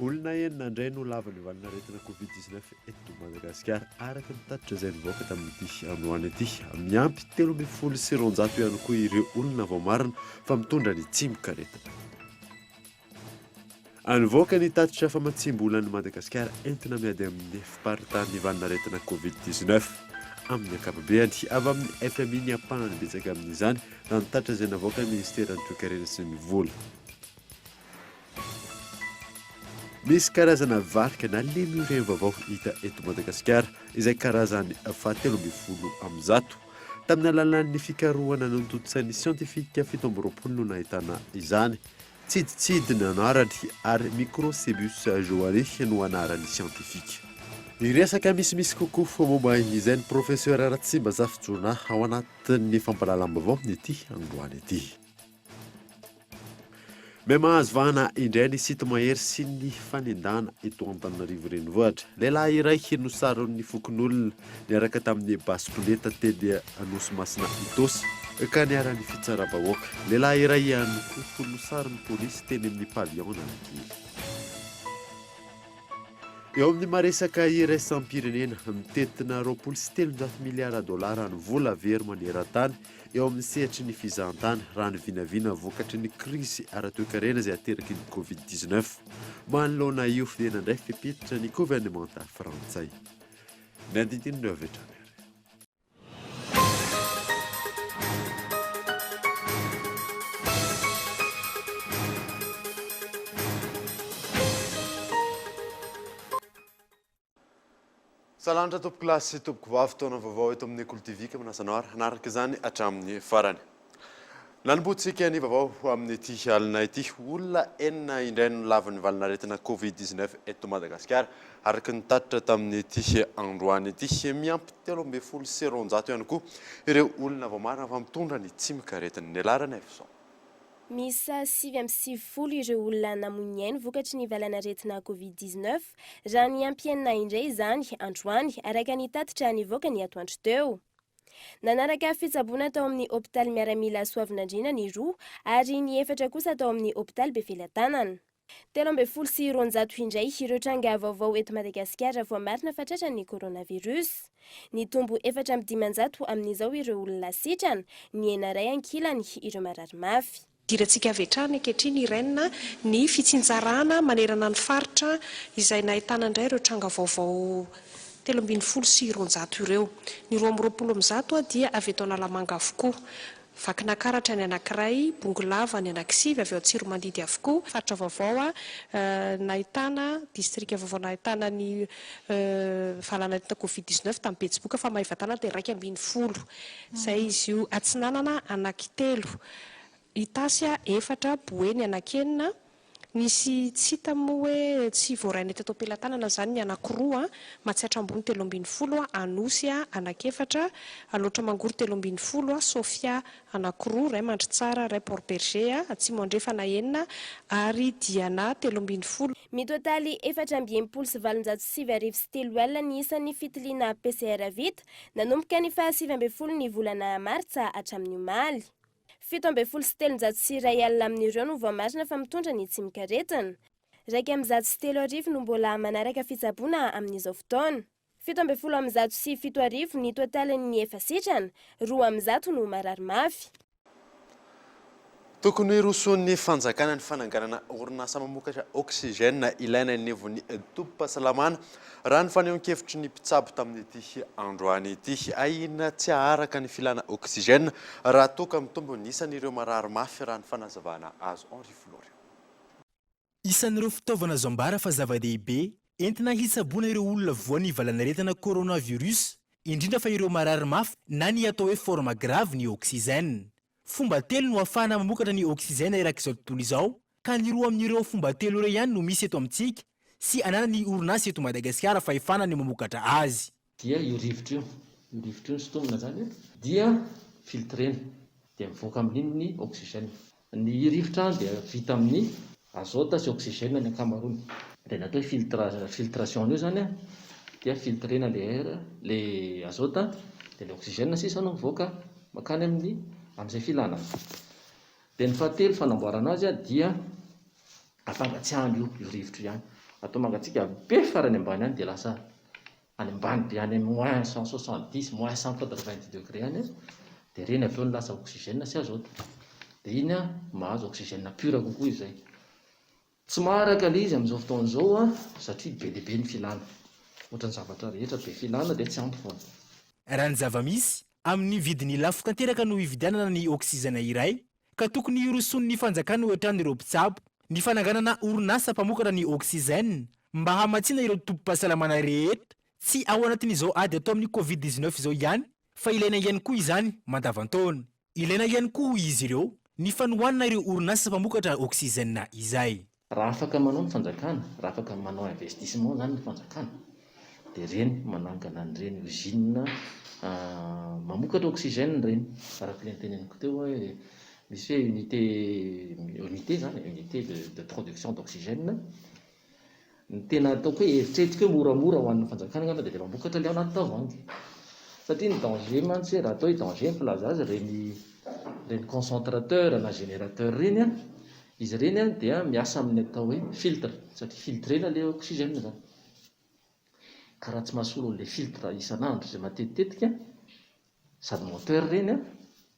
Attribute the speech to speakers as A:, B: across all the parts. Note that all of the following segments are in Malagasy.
A: Olona enina indray no lava ny valin'aretina Covid 19 eto Madagasikara araka ny tatitra izay nivoaka tamin'ity androany ity. Miampy telo ambin'ny folo sy roanjato ihany koa ireo olona vao marina fa mitondra ny tsimokaretina. Nivoaka ny tatitra famatsiam-bola an'i Madagasikara entina miady amin'ny fiparitan'ny valin'aretina Covid dix neuf amin'ny ankapobeny. Avy amin'ny fmi ny ampahany betsaka amin'izany raha ny tatitra izay navoakan'ny Minisiteran'ny Toekarena sy ny vola. Misy karazana varika na lemurien vaovao hita eto Madagasikara izay karazany fahatelo ambin'ny folo amin'ny zato. Tamin'ny alalan'ny fikarohana notontosain'ny siantifika fito amby roapolo no nahitana izany. Tsiditsidina anarany ary Microcebus johanni no anarany siantifika. Ny resaka misimisy kokoa momba izay ny Profesera Ratsimba Zafijoana ao anatin'ny fampahalalam-baovao ity androany ity. May mahazo vahana indray ny site mahery sy ny fanendahana eto Antananarivo Renivohitra. Lehilahy iray no saron'ny fokonolona niaraka tamin'ny basikoleta teny Anosimasina Itaosy, ka niharan'ny fitsaram-bahoaka. Lehilahy iray ihany koa tono sarin'ny polisy teny amin'ny Pavillon Analakely. Eo amin'ny maha-resaka iraisam-pirenena, mitentina roapolo sy telonjato miliara dolara ny vola very maneran-tany eo amin'ny sehatry ny fizahantany, raha ny vinavina vokatry ny krizy ara-toekarena izay ateraky ny Covid dix-neuf. Manoloana io, dia nandray fepetra ny governemanta frantsay. Ny andinindininy avy hatrany ary. Salanitra tompokolahy sy tompokovavy, taona vaovao eto amin'ny Kolo TV ka manasa anao ary hanaraka izany hatramin'ny farany. Nanombohantsika ny vaovao ho amin'ity alina ity. Olona enina indray no lavin'ny valin'aretina Covid dix neuf eto Madagasikara, araka ny tatitra tamin'ity androany ity. Miampy telo ambin'ny folo sy roanjato ihany koa ireo olona vao marina fa mitondra ny tsimok'aretina. Ny laharan' ny hevi-zao. Miisa
B: sivy amby sivifolo ireo olona namoy ny ainy vokatry ny valan'aretina Covid dix neuf, raha niampy enina indray izany androany, araka ny tatitra nivoaka ny atoandro teo. Nanaraka fitsaboana tao amin'ny hopitaly miaramila Soavinandriana ny roa ary ny efatra kosa tao amin'ny hopitaly Befelatanana. Telo ambin'ny folo sy roanjato indray ireo tranga vaovao eto Madagasikara voamarina fa tratran'ny coronavirus. Nitombo efatra amby dimanjato amin'izao ireo olona sitrana, nihena iray ankilany ireo marary mafy. Idirantsika avy hatrany
C: ankehitriny Irène a, ny fitsinjarana manerana ny faritra izay nahitana indray ireo tranga vaovao telo ambin'ny folo sy roanjato ireo. Ny roa amby roapolo amin'ny zato dia avy eto Analamanga avokoa. Vakinakaratra ny anankiray, Bongolava ny anankisivy avy ao Antsiromandidy avokoa. Faritra vaovao a, nahitana distrika vaovao nahitana ny valanaretina covid dix neuf tamin'ny Betsiboka fa Maevatanana dia iraika ambin'ny folo. Izay izy io. Atsinanana anankitelo. Itasy efatra, Boeny anankenina, nisy tsy hita moa hoe tsy voarainay teto am-pelatanana izany ny anankiroa, Matsiatra Ambony telo ambin'ny folo, Anosy anankiefatra, Alaotra Mangoro telo ambin'ny folo, Sofia anankiroa, iray Mandritsara, iray Port Bergé atsimo andrefana enina ary Diana telo ambin'ny folo. Mitotaly
B: efatra amby enimpolo sy valonjato sy sivy arivo sy telo alina ny isan'ny fitiliana PCR vita nanomboka ny faha sivy ambin'ny folo ny volana martsa hatramin'ny omaly. Fito ambin'ny folo sy telonjato sy iray alina amin'ireo no voamarina fa mitondra ny tsimok'aretina. Iraika amby zato sy telo arivo no mbola manaraka fitsaboana amin'izao fotoana. Fito ambin'ny folo amby zato sy fito arivo ny totalin'ny efa sitrana, roa amin'ny zato no marary mafy.
A: Tokony hirosoan'ny fanjakana ny fananganana orinasa mamokatra oxygène ilaina eny anivon'ny tobim-pahasalamana, raha ny fanehoan-kevitry ny mpitsabo tamin'ity androany ity. Ahiana tsy haharaka ny filana oxygène raha toa ka mitombo ny isan'ireo marary mafy, raha ny fanazavana azo Henri Florio.
D: Isan'ireo fitaovana azo ambara fa zava-dehibe entina hitsaboana ireo olona voan'ny valanaretina coronavirus, indrindra fa ireo marary mafy na ny atao hoe forme grave ny oxygène. Fomba telo no ahafahana mamokatra ny oxygène erak'izao tontolo izao ka ny roa amin'ireo fomba telo ireo ihany no misy eto amintsika sy ananan'ny orinasa eto Madagasikara fahefana ny mamokatra azy. Dia io rivotra io,
E: io rivotra io sintomina zany dia filtrena dia mivoaka amin'iny ny oxygène. Ny rivotra dia vita amin'ny azôta sy oxygène ny ankamaroany. Dia ny atao hoe filtration an'io zany dia filtrena le air, le azôta dia le oxygène sisa no mivoaka makany amin'ny amin'izay filana. Dia ny fahatelo fanamboarana azy dia Afangatsiahana io io rivotra io ihany. Atao mangatsiaka be farany ambany any dia lasa any ambany be any moins cent soixante dix, moins cent quatre vingt dix degré any izy dia ireny avy eo no lasa oxygène sy azote. Dia iny mahazo oxygène pur kokoa izy izay. Tsy maharaka ilay izy amin'izao fotoana izao satria be dia be ny filana. Ohatran'ny zavatra rehetra be filana dia tsy ampy foana. Raha ny
D: zava-misy, amin'ny vidiny lafo tanteraka no hividianana ny oxygène iray ka tokony hirosoan'ny fanjakana hoatran' ireo mpitsabo ny fananganana orinasa mpamokatra ny oxygène mba hamatsiana ireo tobim-pahasalamana rehetra tsy ao anatin'izao ady atao amin'ny Covid dix neuf izao ihany fa ilaina ihany koa izany mandavantaona. Ilaina ihany koa hoy izy ireo ny fanohanana ireo orinasa mpamokatra oxygène izay. Raha afaka manao
E: ny fanjakana, raha afaka manao investissement izany ny fanjakana dia ireny manangana an'ireny usine mamokatra oxygène ireny, araka ilay noteneniko teo hoe misy hoe unité, unité izany e, unité de de production d'oxygène, ny tena ataoko hoe eritreretiko hoe moramora ho an'ny fanjakana angamba dia ilay mamokatra ilay ao anaty tavoahangy, satria ny danger mantsy hoe raha atao hoe danger ny filaza azy ireny ireny concentrateur na générateur ireny an, Izy ireny dia miasa amin'ny atao hoe filtre satria filtrena ilay oxygène izany. Ka raha tsy mahasolo an'ilay filtre isan'andro izay matetitetika sady moteur ireny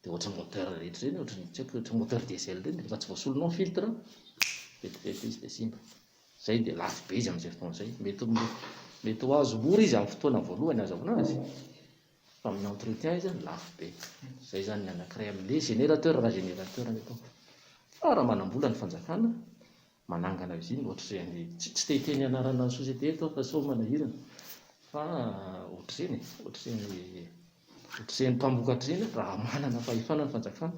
E: dia ohatran'ny moteur rehetra ireny, ohatran'ny tsy haiko, ohatran'ny moteur diesel ireny, raha tsy voasolonao ny filtre vetivety izy dia simba. Izay dia lafo be izy amin'izay fotoana izay. Mety ho mety ho azo mora izy amin'ny fotoana voalohany azahoana azy. Fa amin'ny entretien izy lafo be. Izay izany ny anankiray amin'ny hoe générateur raha générateur ny ataoko. Fa raha manam-bola ny fanjakana, manangana usine ohatr'izay any, tsy tsy te hiteny anarana société eto aho fa sao manahirana, fa ohatr'izany e, ohatr'izay ny, ohatr'izay ny mpamokatra izay raha manana fahefana ny fanjakana.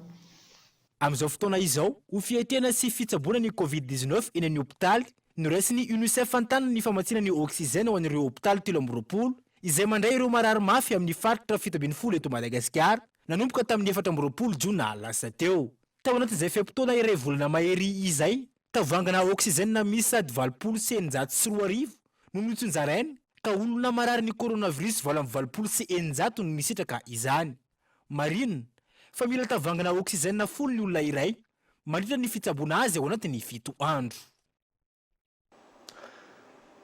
E: Amin'izao
D: fotoana izao, ho fiatrehana sy fitsaboana ny Covid dix-neuf eny amin'ny hopitaly, noraisin'ny Unicef an-tanana ny famatsiana ny oxygène ho an'ireo hopitaly telo amby roapolo izay mandray ireo marary mafy amin'ny faritra fito ambin'ny folo eto Madagasikara, nanomboka tamin'ny efatra amby roapolo jona lasa teo. Tao anatin'izay fe-potoana iray volana mahery izay, tavoahangina oxygène miisa ady valopolo sy eninjato sy roa arivo no notsinjaraina ka olona marary ny coronavirus valo amby valopolo sy eninjato no nisitraka izany. Marina fa mila tavangana oksizena folo ny olona iray mandritra ny fitsaboana azy ao anatin'ny fito andro.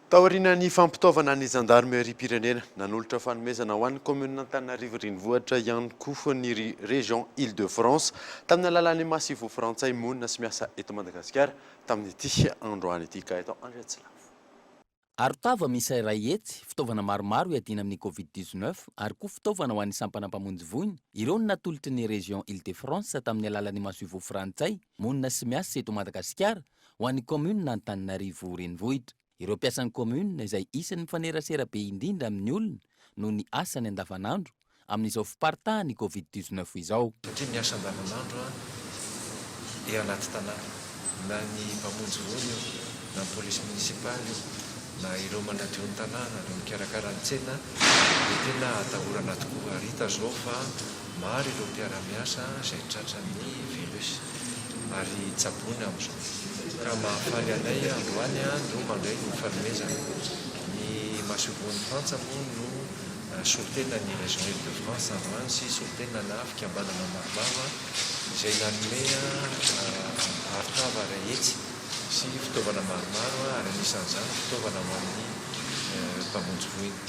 A: Taorian'ny fampitaovana ny zandarimeriam-pirenena, nanolotra fanomezana ho an'ny kaominina Antananarivo Renivohitra ihany koa ny Région Île-de-France tamin'ny alalan'ny Masivo Frantsay monina sy miasa eto Madagasikara tamin'ity androany ity, Gaëtan Andriatsilavo. Arotava
F: miisa iray hetsy, fitaovana maromaro hiadiana amin'ny Covid dix-neuf ary koa fitaovana ho an'ny sampana mpamonjy voina, ireo no natolotry ny Région Île-de-France tamin'ny alalan'ny masoivoho frantsay monina sy miasa eto Madagasikara ho an'ny Kaominina Antananarivo Renivohitra. Ireo mpiasan'ny Kaominina izay isan'ny mifanerasera be indrindra amin'ny olona noho ny asany andavanandro, amin'izao fiparitahan'ny Covid dix-neuf izao. Satria miasa andavanandro
G: eo anaty tanàna, na ny mpamonjy voina io, na ny polisy monisipaly io, na ireo manadio ny tanàna, ireo mikarakara ny tsena, dia tena atahorana tokoa. Ary hita izao fa maro ireo mpiara-miasa izay tratran'ny virus ary tsaboina amin'izao. Ka mahafaly anay androany no mandray ny fanomezana. Ny masoivohon'i Frantsa moa no solontenan'ny Région Île-de-France androany sy solontenana fikambanana maromaro izay nanome arotava ara-hetsy sy fitaovana maromaro ary anisan'izany fitaovana ho an'ny mpamonjy voina.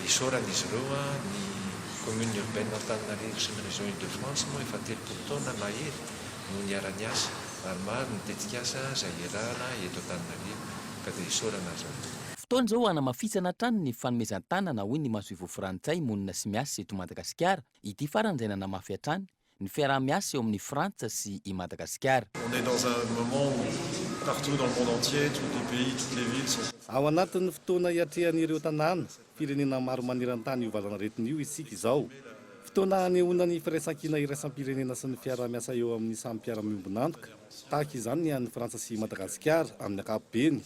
G: Isaoran'izy ireo ny Commune Urbaine Antananarivo sy ny Région Île-de-France moa efa telopolo taona mahery no niara-niasa ary maro ny tetikasa izay iarahana eto Antananarivo ka dia isaorana azy ireo. Fotoana izao
F: hanamafisana hatrany ny fanomezan-tanana hoy ny masoivoho frantsay monina sy miasa eto Madagasikara, ity farany izay nanamafy hatrany ny fiaraha-miasa
G: eo amin'i Frantsa
F: sy i Madagasikara.
G: On
F: est dans un moment où
H: partout dans le monde entier, toutes les pays, toutes les villes sont. Ao anatin'ny fotoana
I: iatrehan'ireo tanàna, firenena maro maneran-tany io valanaretina io isika izao. Fotoana hanehoana ny firaisankina iraisam-pirenena sy ny fiaraha-miasa eo amin'ny samy mpiara-miombon'antoka. Tahaka izany ny an'i Frantsa sy i Madagasikara amin'ny ankapobeny.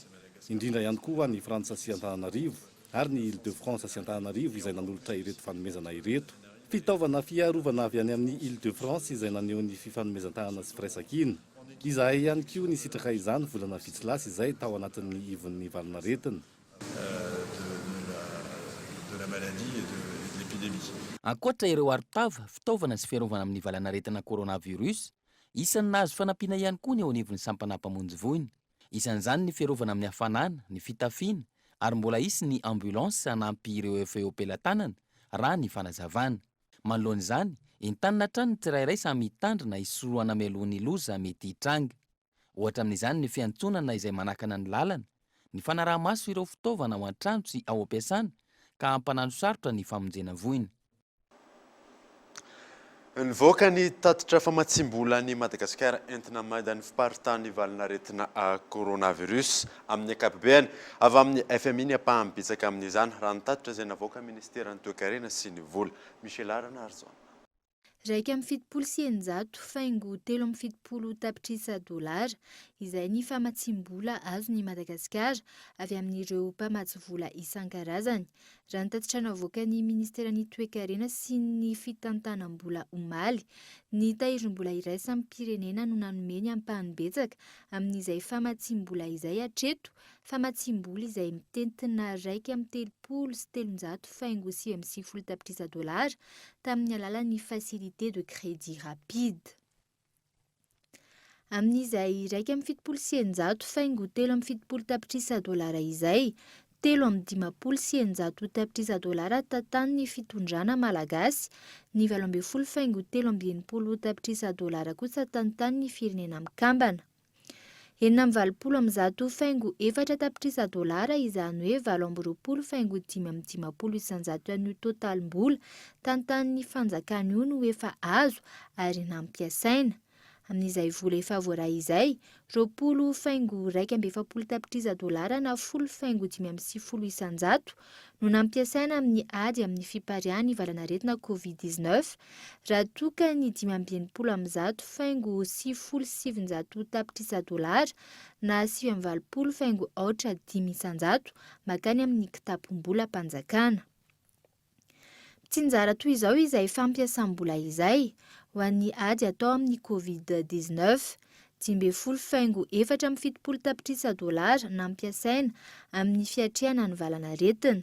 I: indrindra ihany koa ny Frantsa sy Antananarivo ary ny Île de France sy Antananarivo izay nanolotra ireto fanomezana ireto. Fitaovana fiarovana avy any amin'ny Île de France izay naneho ny fifanomezan-tanana sy firaisankina. Izahay ihany koa nisitraka izany volana vitsy lasa izay tao anatin'ny ivon'ny valinaretina. de
H: la maladie et de l'épidémie. Ankoatra ireo
F: arotava, fitaovana sy fiarovana amin'ny valanaretina coronavirus, isan'ny nahazo fanampiana ihany koa ny eo anivon'ny sampanà mpamonjy voina. Isan'izany ny fiarovana amin'ny hafanana, ny fitafiana ary mbola hisy ny ambulance hanampy ireo efa eo am-pelatanana, raha ny fanazavana. Manoloana izany, entanina hatrany ny tsirairay samy hitandrina hisorohana mialoha ny loza mety hitranga. Ohatra amin'izany ny fiantsonana izay manakana ny lalana, ny fanaraha-maso ireo fitaovana ao an-trano sy ao am-piasana ka hampananosarotra ny famonjena voina.
A: Nivoaka ny tatitra famatsiam-bola an'i Madagasikara entina mainda ny fiparitahan'ny valin'aretina coronavirus amin'ny ankapobeany. Avy amin'ny fmi ny ampahany betsaka amin'izany, raha ny tatitra izay navoakan'ny minisiteran'ny toekarena sy ny vola. Michela Ranarison. Iraika amby
J: fitopolo sy eninjato faingo telo amby fitopolo tapitrisa dolara izay ny famatsiam-bola azon'i Madagasikara avy amin'ireo mpamatsy vola isan-karazany. Raha ny tatitra navoakan'ny Ministeran'ny Toekarena sy ny Fitantanam-bola omaly, ny tahirim-bola iraisam-pirenena no nanome ny ampahany betsaka amin'izay famatsiam-bola izay hatreto, famatsiam-bola izay mitentina iraika amby telopolo sy telonjato faingo sivy amby sivifolo tapitrisa dolara tamin'ny alalan'ny Facilité de Crédit Rapide. Amin'izay iraika amby fitopolo sy eninjato faingo telo amby fitopolo tapitrisa dolara izay, telo amby dimampolo sy eninjato tapitrisa dolara tantanin'ny fitondrana malagasy, ny valo ambin'ny folo faingo telo amby enimpolo tapitrisa dolara kosa tantanin'ny Firenena Mikambana. Enina amby valopolo amby zato faingo efatra tapitrisa dolara, izany hoe valo amby roapolo faingo dimy amby dimampolo isanjato ihany io totalim-bola tantanin'ny fanjakana io no efa azo ary nampiasaina. Amin'izay vola efa voaray izay, roapolo faingo iraika amby efapolo tapitrisa dolara na folo faingo dimy amby sivifolo isanjato no nampiasaina amin'ny ady amin'ny fipariahan'ny valanaretina Covid dix neuf raha toa ka ny dimy amby enimpolo amin'ny zato faingo sivifolo sy sivinjato tapitrisa dolara na sivy amby valopolo faingo aotra dimy isanjato makany amin'ny kitapom-bolam-panjakana. Tsinjara toy izao izay fampiasam-bola izay ho an'ny ady atao amin'ny Covid dix neuf. dimy ambin'ny folo faingo efatra amby fitopolo tapitrisa dolara nampiasaina amin'ny fiatrehana ny valanaretina,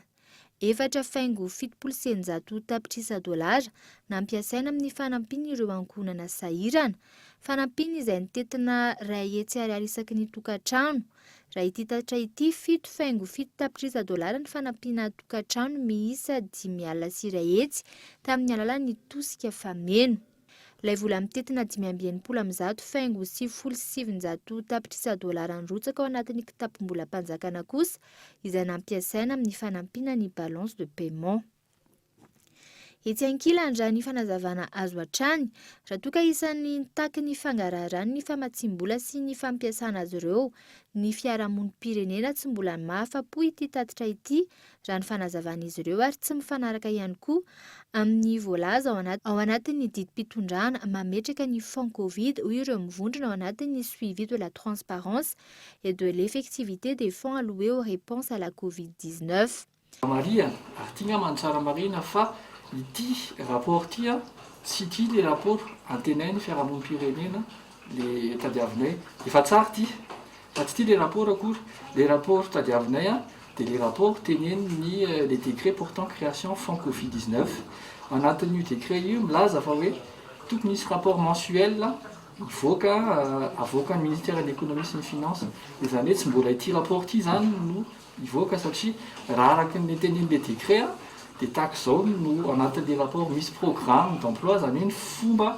J: efatra faingo fitopolo sy eninjato tapitrisa dolara nampiasaina amin'ny fanampiana ireo ankohonana sahirana, fanampiana izay nitentina iray hetsy ariary isaky ny tokantrano, raha ity tatitra ity, fito faingo fito tapitrisa dolara ny fanampiana tokantrano miisa dimy alina sy iray hetsy tamin'ny alalan'ny tosika fameno. Ilay vola mitentina dimy amby enimpolo amby zato faingo sivifolo sy sivinjato tapitrisa dolara nirotsaka ao anatin'ny kitapom-bolam-panjakana kosa izay nampiasaina amin'ny fanampiana ny balance de paiement. Etsy ankilany, raha ny fanazavana azo hatrany, raha toa ka isan'ny nitaky ny fangaraharany ny famatsiam-bola sy ny fampiasana azy ireo, ny fiarahamonim-pirenena tsy mbola mahafa-po ity tatitra ity raha ny fanazavan'izy ireo ary tsy mifanaraka ihany koa amin'ny voalaza ao anaty ao anatin'ny didim-pitondrana mametraka ny fonds covid, hoy ireo mivondrona ao anatin'ny Suivi de la transparence et de l'effectivité des fonds alloués aux réponses à la covid dix neuf. Marihana,
K: ary ity angamba no tsara marihina, fa ity rapport ity tsy ity ilay rapport antenain'ny fiarahamonim-pirenena le tadiavinay efa tsara ty fa tsy ty le rapport akory le rapport tadiavinay a de le rapport tenenin'ny euh, le décret portant création fonds covid 19 anatin'io décret io milaza fa hoe tokony hisy rapport mensuel hivoaka euh, avoakan'ny ministère de l'économie sy ny finance de zany hoe tsy mbola ity rapport ty zany no hivoaka satria raha araka ny tenenin'le décret a de tahaka izao no anatin'le rapport misy programme d'emploi zany hoe ny fomba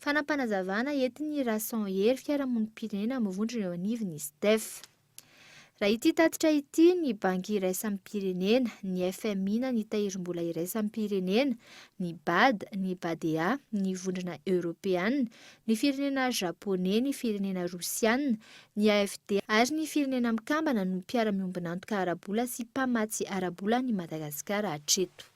K: Fanapanazavana
J: entin'ny Irason Hery fiarahamonim-pirenena amin'ny vondrona eo anivon'ny Sdef. Raha ity tatitra ity, ny Banky iraisam-pirenena, ny fmi na ny Tahirimbola iraisam-pirenena, ny Bad, ny Badea, ny Vondrona Eoropeana, ny firenena Japoney, ny firenena Rosiana, ny AFD ary ny Firenena Mikambana no mpiara-miombon'antoka ara-bola sy mpamatsy ara-bola an'i Madagasikara hatreto.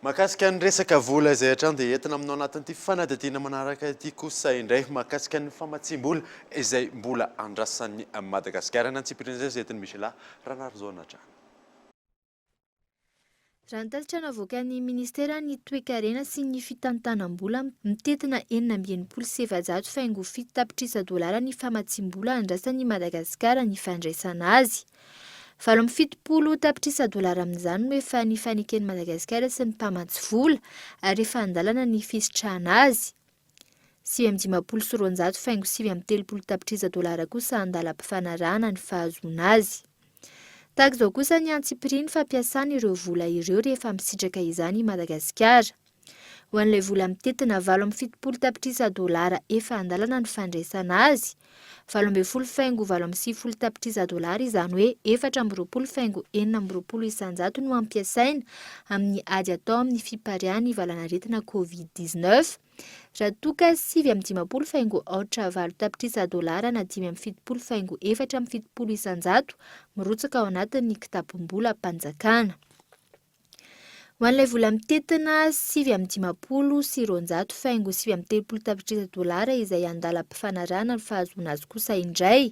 A: Mahakasika ny resaka vola izay hatrany dia entina aminao anatin'ity fanadihadiana manaraka ity kosa indray mahakasika ny famatsiam-bola izay mbola andrasan'i Madagasikara any an-tsipiriany izay entin'i Michela Ranarijaona hatrany.
J: Raha ny tatitra navoakan'ny Ministeran'ny Toekarena sy ny Fitantanam-bola, mitentina enina amby enimpolo sy efajato faingo fito tapitrisa dolara ny famatsiam-bola andrasan'i Madagasikara ny fandraisana azy. Valo amby fitopolo tapitrisa dolara amin'izany no efa nifaneken'i Madagasikara sy ny mpamatsy vola ary efa an-dalana ny fisitrahana azy. Sivy amby dimampolo sy roanjato faingo sivy amby telopolo tapitrisa dolara kosa an-dalam-pifanarahana ny fahazoana azy. Tahaka izao kosa ny antsipirian'ny fampiasana ireo vola ireo rehefa misitraka izany i Madagasikara. Ho an'ilay vola mitentina valo amby fitopolo tapitrisa dolara efa an-dalana ny fandraisana azy, valo ambin'ny folo faingo valo amby sivifolo tapitrisa dolara izany hoe efatra amby roapolo faingo enina amby roapolo isanjato no ampiasaina amin'ny ady atao amin'ny fipariahan'ny valanaretina covid dix neuf raha toa ka sivy amby dimampolo faingo aotra valo tapitrisa dolara na dimy amby fitopolo faingo efatra amby fitopolo isanjato mirotsaka ao anatin'ny kitapom-bolam-panjakana. Ho an'ilay vola mitentina sivy amby dimampolo sy roanjato faingo sivy amby telopolo tapitrisa dolara izay andalam-pifanarahana ny fahazoana azy kosa indray.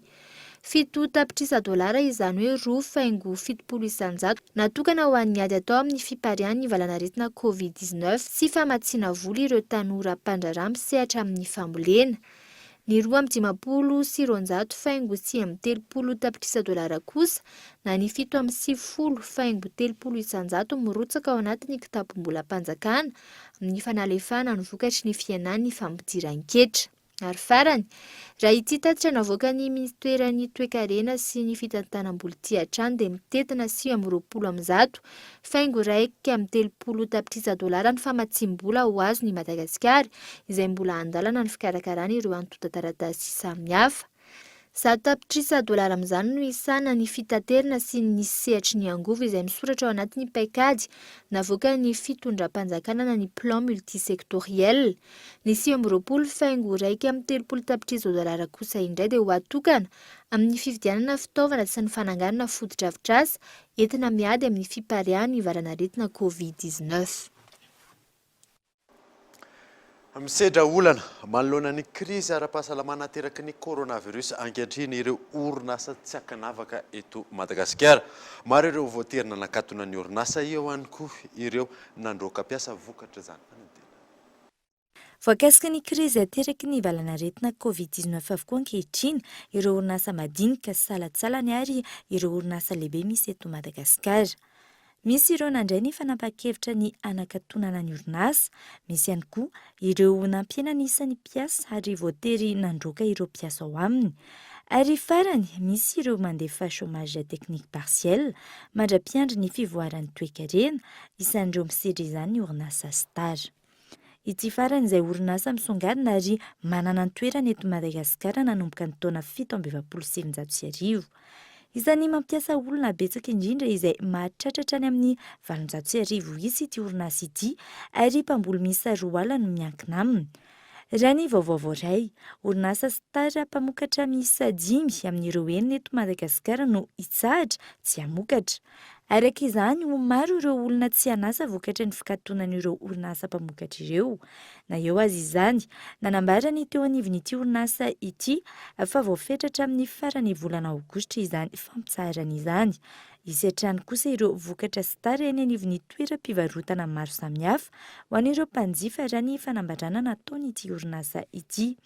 J: Fito tapitrisa dolara, izany hoe roa faingo fitopolo isanjato, natokana ho an'ny ady atao amin'ny fipariahan'ny valanaretina Covid dix-neuf sy famatsiana vola ireo tanora mpandraharaha misehatra amin'ny fambolena. ny roa amby dimampolo sy roanjato faingo sivy amby telopolo tapitrisa dolara kosa na ny fito amby sivifolo faingo telopolo isanjato mirotsaka ao anatin'ny kitapom-bolam-panjakana amin'ny fanalefahana ny vokatry ny fihenan'ny fampidiran-ketra. Ary farany, raha ity tatitra navoakan'ny minisiteran'ny Toekarena sy ny fitantanam-boly ity hatrany dia mitentina sivy amby roapolo amin'ny zato saingy iraika amby telopolo tapitrisa dolara ny famatsiam-bola ho azony i Madagasikara, izay mbola an-dalana ny fikarakarany ireo antontan-taratasy samihafa. Zato tapitrisa dolara amin'izany no hisahana ny fitaterana sy ny sehatry ny angovo izay misoratra ao anatin'ny paikady navoakan'ny fitondram-panjakana na ny Plan multisectoriel. Ny sivy amby roapolo faingo iraika amby telopolo tapitrisa dolara kosa indray dia ho atokana amin'ny fividianana fitaovana sy ny fananganana fotodrafitrasa entina miady amin'ny fipariahan'ny valan'aretina Covid dix neuf.
A: Misedra olana manoloana ny krizy ara-pahasalamana ateraky ny coronavirus ankehitriny ireo orinasa tsy ankanavaka eto Madagasikara. Maro ireo voatery nanakatona ny orinasa, eo ihany koa ireo nandroaka mpiasa vokatr'izany fanentenana. Voakasika
L: ny krizy ateraky ny valanaretina Covid dix neuf avokoa ankehitriny ireo orinasa madinika sy salatsalany ary ireo orinasa lehibe misy eto Madagasikara. Misy ireo nandray ny fanapahan-kevitra ny hanakatonana ny orinasa, misy ihany koa ireo nampiena ny isan'ny mpiasa ary voatery nandroaka ireo mpiasa ao aminy. Ary farany, misy ireo mandefa chômage technique partiel mandra-piandry ny fivoaran'ny toekarena, isan'ireo misedra izany ny orinasa Star. Ity farany izay orinasa misongadina ary manana ny toerany eto Madagasikara nanomboka ny taona fito amby efapolo sy sivinjato sy arivo. Isan'ny mampiasa olona betsaka indrindra izay mahatratra hatrany amin'ny valonjato sy arivo isa ity orinasa ity ary mpamboly miisa roa ala no miankina aminy. Raha ny vaovao voaray, orinasa Star mpamokatra miisa dimy amin'ireo enina eto Madagasikara no hitsahatra tsy hamokatra. Araka izany, ho maro ireo olona tsy an'asa vokatry ny fikatonan'ireo orinasa mpamokatra ireo. Na eo aza izany, nanambara ny teo anivon'ity orinasa ity fa voafetra hatramin'ny faran'ny volana aogositra izany fampitsaharana izany. Hisy hatrany kosa ireo vokatra Star eny anivon'ny toeram-pivarotana maro samihafa ho an'ireo mpanjifa raha ny fanambarana nataon'ity orinasa ity.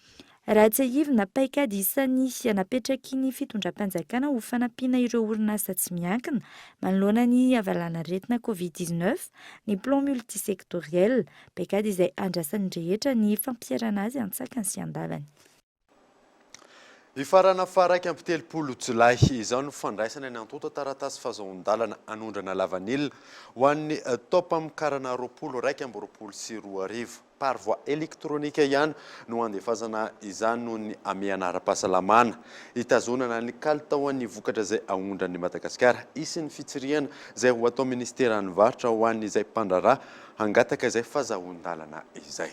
L: Raha tsiahivina, paikady isan'ny napetraky ny fitondram-panjakana ho fanampiana ireo orinasa tsy miankina manoloana ny havalanaretina covid dix neuf ny Plan multisectoriel, paikady izay andrasan'ny rehetra ny fampiharana azy an-tsakany sy an-davany.
A: Hifarana faha iraika amby telopolo jolay izao ny fandraisana ny antontan-taratasy fahazoan-dalana hanondrana lavanila ho an'ny taom-pamokarana roapolo iraika amby roapolo sy roa arivo. par voie électronique ihany no handefasana izany noho ny hamehana ara-pahasalamana, hitazonana ny kalitaon'ny vokatra izay aondran'i Madagasikara. Hisy ny fitsirihana izay ho atao minisiteran'ny varotra ho an'izay mpandraharaha hangataka izay fazahoan-dalana izay.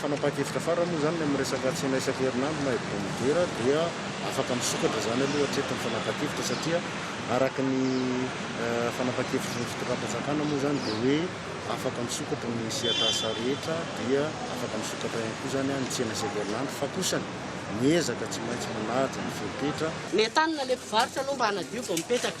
M: Fanapahan-kevitra farany moa izany ny amin'ny resaka tsena isan-kerinandro na hebdomadaire dia afaka misokatra izany aloha hatreto ny fanapahan-kevitra satria araka ny fanapahan-kevitry ny fitondram-panjakana moa izany dia hoe afaka misokatra ny sehatr'asa rehetra dia afaka misokatra ihany koa izany ny tsena isan-kerinandro fa kosa miezaka tsy maintsy manaja ny fepetra Ny entanina ilay
N: mpivarotra aloha mba hanadio vao mipetraka.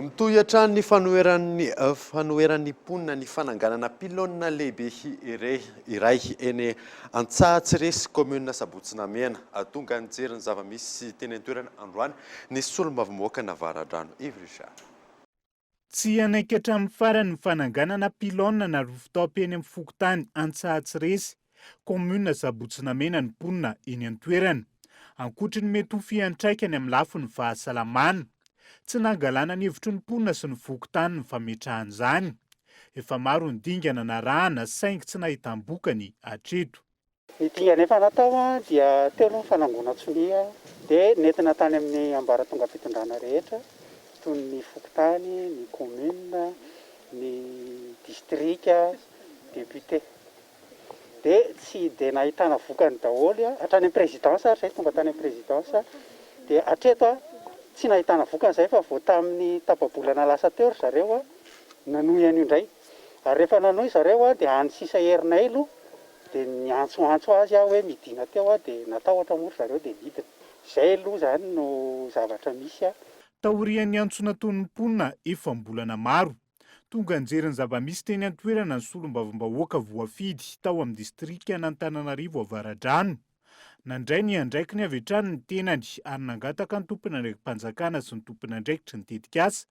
A: Mitohy hatrany ny fanoheran'ny fanoheran'ny mponina ny fananganana pylône lehibe iray eny Antsahatsiresy, kaominina Sabotsy Namehana. Tonga nijery ny zava-misy teny an-toerana androany ny solombavambahoaka Navaradrano Hery Richard.
O: Tsy hanaiky hatramin'ny farany ny fananganana pylône na rooftop eny amin'ny fokontany Antsahatsiresy, kaominina Sabotsy-Namena ny mponina eny an-toerana. Ankoatry ny mety ho fiantraikany amin'ny lafiny fahasalamana, tsy nangalana ny hevitry ny mponina sy ny fokontany ny fametrahana izany. Efa maro ny dingana narahana saingy tsy nahitam-bokany hatreto. Ny dingana
P: efa natao dia teo aloha ny fanangonan-tsonia dia nentina tany amin'ny ambaratongam-pitondrana rehetra toy ny fokontany, ny commune, ny distrika, député. Dia tsy dia nahitana vokany daholo hatrany amin'ny présidence ary izay tonga tany amin'ny présidence dia hatreto tsy nahitana vokany izay fa vao tamin'ny tapa-bolana lasa teo ry zareo nanohy an'io indray. Ary rehefa nanohy zareo dia any sisa herinay aloha. Dia niantsoantso azy aho hoe midina teo aho dia natahotra moa ry zareo dia nidina. Izay aloha izany no zavatra misy an. Taorian'ny
O: antsonanton'ny mponina efam-bolana maro, tonga nijery ny zava-misy teny an-toerana ny solombavambahoaka voafidy tao amin'ny distrikan'Antananarivo Avaradrano. Nandray ny andraikiny avy hatrany ny tenany ary nangataka ny tomponandraiki-panjakana sy ny tomponandraikitry ny tetikasa,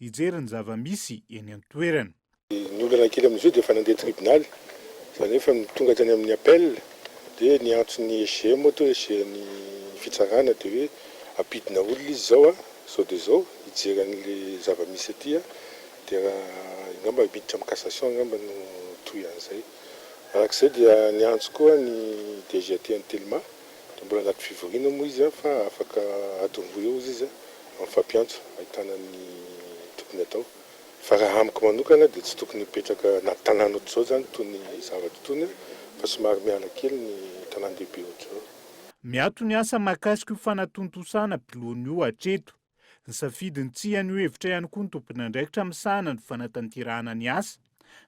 O: hijery ny zava-misy eny an-toerana. Ny olana kely
Q: amin'izao dia efa nandeha tribonaly, izany hoe efa tonga tany amin'ny appel, dia ny antson'ny SGM moa toa hoe SGM ny fitsarana dia hoe ampidina olona izy izao izao dia izao hijery an'ilay zava-misy aty dia angamba miditra amin'ny cassation angamba no toy an'izay. Arak'izay dia niantso koa ny DGAT an'i Telma. Raha mbola anaty fivoriana moa izy fa afaka adiny roa eo izy izy amin'ny fampiantso ahitana ny tokony atao. Fa raha amiko manokana dia tsy tokony hipetraka anaty tanàna ohatr'izao izany itony zavatra itony fa somary miala kely ny tanàn-dehibe ohatr'izao. Miato ny
O: asa mahakasika io fanatontosana mpilohana io hatreto. Nisafidy ny tsy hihaino hevitra ihany koa ny tomponandraikitra misahana ny fanatanterahana ny asa,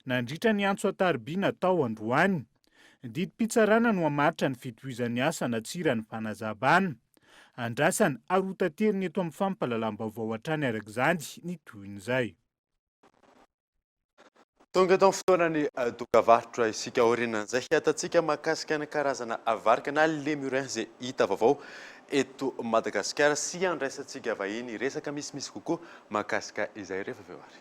O: nandritra ny antso an-tarobia natao androany. Didim-pitsarana no hamaritra ny fitohizan'ny asa na tsia raha ny fanazavana. Andrasana ary hotaterina eto amin'ny fampahalalam-baovao hatrany araka izany ny tohin'izay.
A: Tonga eto amin'ny fotoanan'ny dokavarotra isika aorianan'izay hiatantsika mahakasika ny karazana varika na lémurin izay hita vaovao eto Madagasikara sy handraisantsika vahiny resaka misimisy kokoa mahakasika izay ireo fa avy eo ary.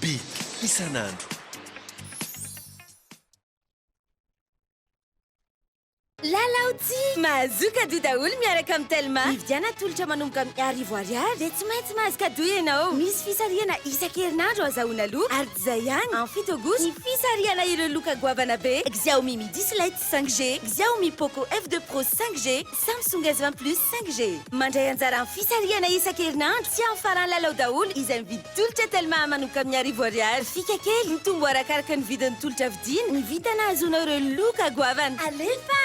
R: Be isan'andro.
S: Lalao tsihy mahazoa kado daholo miaraka amin'ny Telma. Mividiana atolotra manomboka amin'ny arivo ariary dia tsy maintsy mahazo kado ianao. Misy fisarihana isan-kerinandro ahazahoana loka ary tsy izay ihany, amin'ny fito aogositra, ny fisarihana ireo loka goavana be Xiaomi Midi Slate. 5 G, Xiaomi Poco F2 Pro 5 G, Samsung S20 Plus 5 G. Mandray anjara amin'ny fisarihana isan-kerinandro tsy amin'ny faran'ny lalao daholo izay mividy tolotra Telma manoka amin'ny arivo ariary. Fika kely, mitombo arakaraka ny vidin'ny tolotra vidiana, ny vintana ahazoanao ireo loka goavana. Alefa!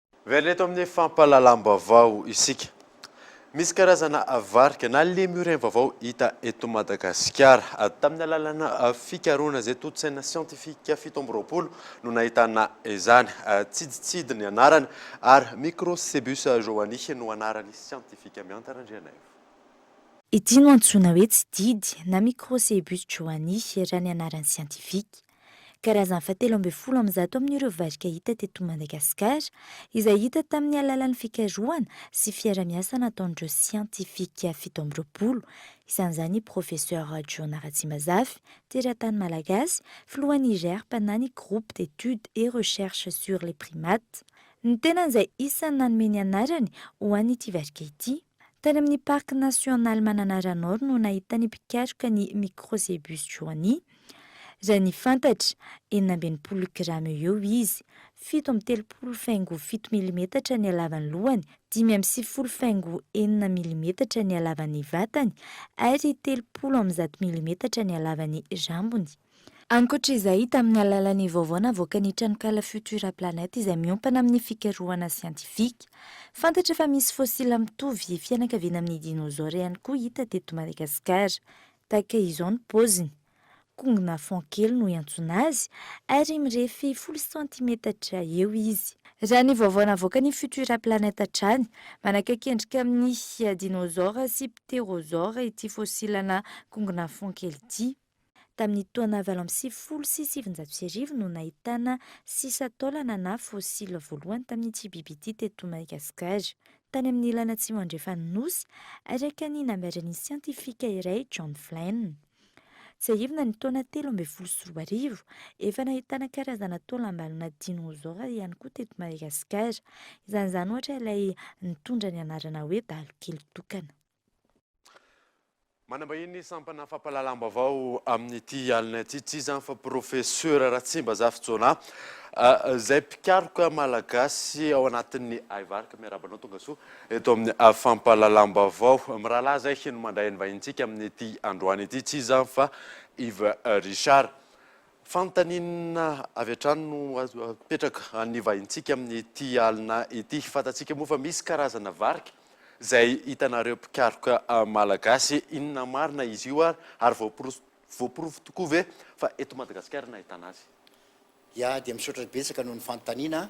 A: Miverina eto amin'ny fampahalalam-baovao isika. Misy karazana varika na lemurien vaovao hita eto Madagasikara. Tamin'ny alalanà fikarohana izay tontosaina siantifika fito amby roapolo no nahitana izany. Tsiditsidy ny anarany ary Microcebus johanni no anarany siantifika. Miantara Andrianaivo.
L: Ity no antsoina hoe tsididy na Microcebus johanni raha ny anarany siantifika. Karazany fahatelo ambin'ny folo amin'ny zato amin'ireo varika hita teto Madagasikara, izay hita tamin'ny alalan'ny fikarohana sy fiarahamiasa nataon'ireo siantifika fito amby roapolo, isan'izany Professeur Jona Ratsimazafy, teratany malagasy, filohan'ny GRERP na ny Groupe d'Etudes et Recherches sur les Primates, ny tenany izay isan'ny nanome ny anarany ho an'ity varika ity. Tany amin'ny Parc National Mananara Nord no nahitan'ny mpikaroka ny Microcebus johani. Raha ny fantatra, enina amby enimpolo grama eo eo izy, fito amby telopolo faingo fito milimetatra ny halavan'ny lohany, dimy amby sivifolo faingo enina milimetatra ny halavan'ny vatany ary telopolo amby zato milimetatra ny halavan'ny rambony. Ankoatra izay, tamin'ny alalan'ny vaovao navoakan'ny tranonkala Futura Planet izay miompana amin'ny fikarohana siantifika, fantatra fa misy fosila mitovy fianakaviana amin'ny dinosaures ihany koa hita teto Madagasikara. Tahaka izao ny paoziny, kongona fond kely no iantsoana azy ary mirefy folo santimetatra eo izy. Raha ny vaovao navoakan'ny Futura Planet hatrany, manakaiky endrika amin'ny dinosaures sy pterosaures ity fosilana kongona fond kely ity. Tamin'ny taona valo amby sivifolo sy sivinjato sy arivo no nahitana sisan-taolana na fossiles voalohany tamin'ny tsy biby ity teto Madagasikara. Tany amin'ny ilany atsimo andrefan'ny Nosy, araka ny nambaran'ny siantifika iray, John Flynn. Tsiahivina ny taona telo ambin'ny folo sy roa arivo, efa nahitana karazana taolam-balona dinosaures ihany koa teto Madagasikara. Isan'izany ohatra ilay nitondra ny anarana hoe Balokely tokana.
A: Manambahiny ny sampana fampahalalam-baovao amin'ity alina ity, tsy iza fa Profesora Ratsimbazafy Jonah, izay mpikaroka malagasy ao anatin'ny Aivarka. Miarahaba anao tonga soa eto amin'ny fampahalalam-baovao. Mirahalahy izay no mandray ny vahintsika amin'ity androany ity, tsy iza fa Yves Richard. Fanontaniana avy hatrany no apetraka an'ny vahintsika amin'ity alina ity. Fantatsika moa fa misy karazana varika izay hitanareo mpikaroka malagasy? Inona marina izy io ary voaporofo tokoa ve fa eto Madagasikara no ahitana azy? Ya dia
T: misaotra betsaka noho ny fanontaniana.